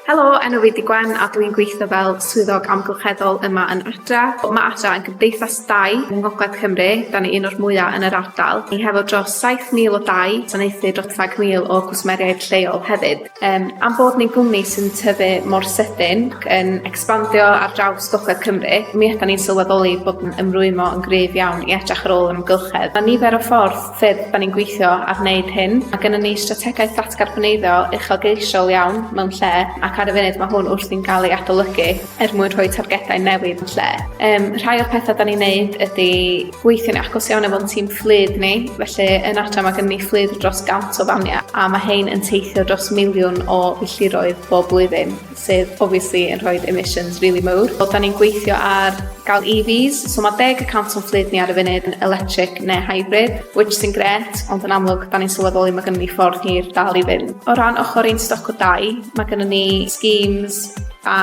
Helo, enw fi 'di Gwen a dwi'n gweithio fel swyddog amgylcheddol yma yn Adra. Mae Adra yn gymdeithas dai yng Ngogledd Cymru, da ni un o'r mwya' yn yr ardal. Ni hefo dros 7,000 o dai, gwasanaethu dros 100,000 o gwsmeriaid lleol hefyd. Yym am bod ni'n gwmni sy'n tyfu mor sydyn ac yn ecspandio ar draws Gogledd Cymru, mi ydan ni'n sylweddoli bod yn ymrwymo yn gryf iawn i edrach ar ôl yr amgylchedd. Ma' nifer o ffordd sut da ni'n gweithio ar wneud hyn. Mae gennym ni strategaeth ddatgarboneiddio uchelgeisiol iawn mewn lle ac ar y funud mae hwn wrthi'n cael ei adolygu er mwyn rhoi targedau newydd yn lle. Um, rhai o'r pethau da ni'n neud ydy gweithio'n agos iawn efo'n tîm fflyd ni, felly yn adra mae gennym ni fflyd dros gant o famiau a mae hein yn teithio dros miliwn o filltiroedd bob blwyddyn. sydd obviously yn rhoi emissions really mowr. Wel, da ni'n gweithio ar gael EVs, so mae deg y cant o'n fflyd ni ar y funud yn electric neu hybrid, which sy'n gret, ond yn amlwg, da ni'n sylweddoli mae gennym ni ffordd hir dal i fynd. O ran ochr ein stoc o dai, mae gennym ni schemes a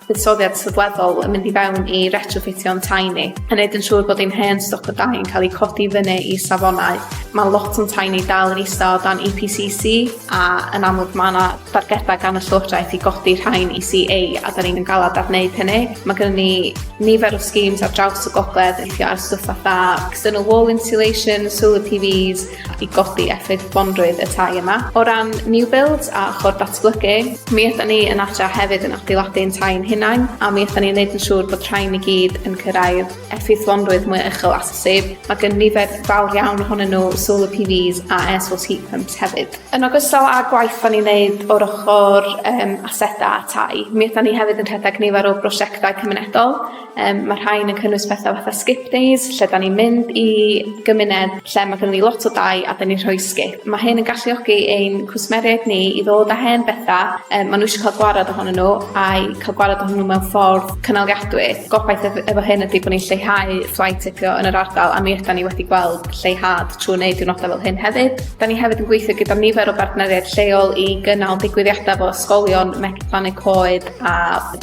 buddsoddiad sylweddol yn mynd i fewn i retrofitio'n tai ni, a wneud yn siŵr bod ein hen stoc o dai yn cael ei codi fyny i safonau. Mae lot o'n tai ni dal yn isa o dan EPCC, a yn amlwg ma' 'na dargeda gan y llywodraeth i godi rhain i See Ay a 'dan ni'm yn galad ar neud hynny. Ma' gynnon ni nifer o schemes ar draws y gogledd yn gweithio ar stwff fatha external wall insulation, solar Pee Vees i godi effaith bonrwydd y tai yma. O ran new builds a ochor datblygu, mi ydan ni yn adra hefyd yn adeiladu ein tai ein hunain a mi ydan ni'n neud yn siŵr bod rhain i gyd yn cyrraedd effeithlonrwydd mwy uchel at y sef, mae gen nifer fawr iawn ohonyn nhw solar PVs a air source heat pumps hefyd. Yn ogystal â'r gwaith da ni'n neud o'r ochr um, aseta a tai, mi ydan ni hefyd yn rhedeg nifer o brosiectau cymunedol. Um, mae rhain yn cynnwys pethau fatha skip days, lle da ni'n mynd i gymuned lle mae gen ni lot o dai a da ni'n rhoi skip. Mae hyn yn galluogi ein cwsmeriaid ni i ddod â hen bethau um, maen nhw eisiau cael gwared ohonyn nhw a'i cael gwared ohonyn nhw mewn ffordd cynaliadwy. Gobaith ef- efo hyn ydy bod ni'n lleihau flight ticio yn yr ardal a mi ydan ni wedi gweld lleihad trwy wneud diwrnodau fel hyn hefyd. Da ni hefyd yn gweithio gyda nifer o bartneriaid lleol i gynnal digwyddiadau fel ysgolion, Megi Plannu Coed a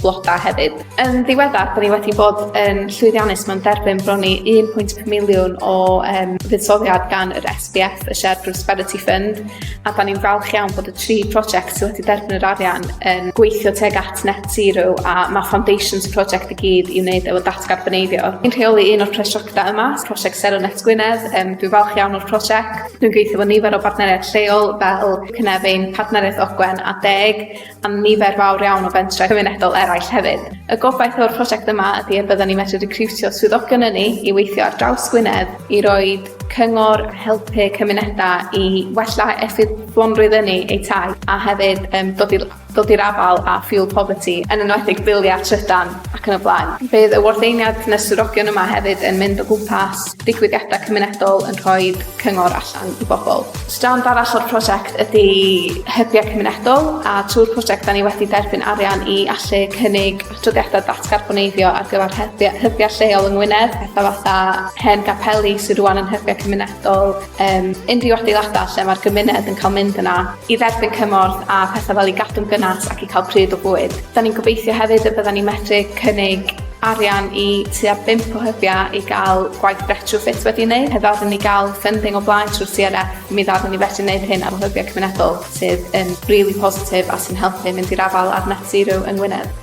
bloda hefyd. Yn ddiweddar, da ni wedi bod yn llwyddiannus mewn derbyn bron i 1.5 miliwn o um, fuddsoddiad gan yr SBF, y Shared Prosperity Fund, a da ni'n falch iawn bod y tri prosiect sydd wedi derbyn yr arian yn gweithio teg at Net Zero a mae Foundations Project i gyd i wneud efo datgarboneiddio. Yn rheoli un o'r prosiectau yma, prosiect Sero Net Gwynedd, um, dwi'n falch iawn o'r prosiect. Dwi'n gweithio efo nifer o bartneriaid lleol fel Cynefin, Partneriaeth Ogwen a Deg, a nifer fawr iawn o fentrau cymunedol eraill hefyd. Y gobaith o'r prosiect yma ydy y byddwn ni'n medru recriwtio swyddogion yn ni i weithio ar draws Gwynedd i roi cyngor a helpu cymunedau i wella effeithlonrwydd ynni eu tai a hefyd um, dod i dod i'r afael â fuel poverty, yn enwedig biliau trydan ac yn y blaen. Bydd y wardeiniad nes swyddogion yma hefyd yn mynd o gwmpas digwyddiadau cymunedol yn rhoi cyngor allan i bobl. Strand arall o'r prosiect ydy hybiau cymunedol a trwy'r prosiect da ni wedi derbyn arian i allu cynnig adroddiadau datgarboneiddio ar gyfer hybiau, hybiau lleol yng Ngwynedd, pethau fatha hen gapeli sydd rwan yn hybiau cymunedol, um, unrhyw adeiladau lle mae'r gymuned yn cael mynd yna i dderbyn cymorth a pethau fel i gadw'n gynnas ac i cael pryd o bwyd. Da ni'n gobeithio hefyd y bydda ni'n medru cynnig arian i tua 5 o hybiau i gael gwaith retrofit wedi wneud. Heb ddod ni gael funding o blaen trwy'r CRF, mi ddod ni felly wneud hyn ar hybiau cymunedol sydd yn really positif a sy'n helpu mynd i'r afael ar net zero yng Ngwynedd.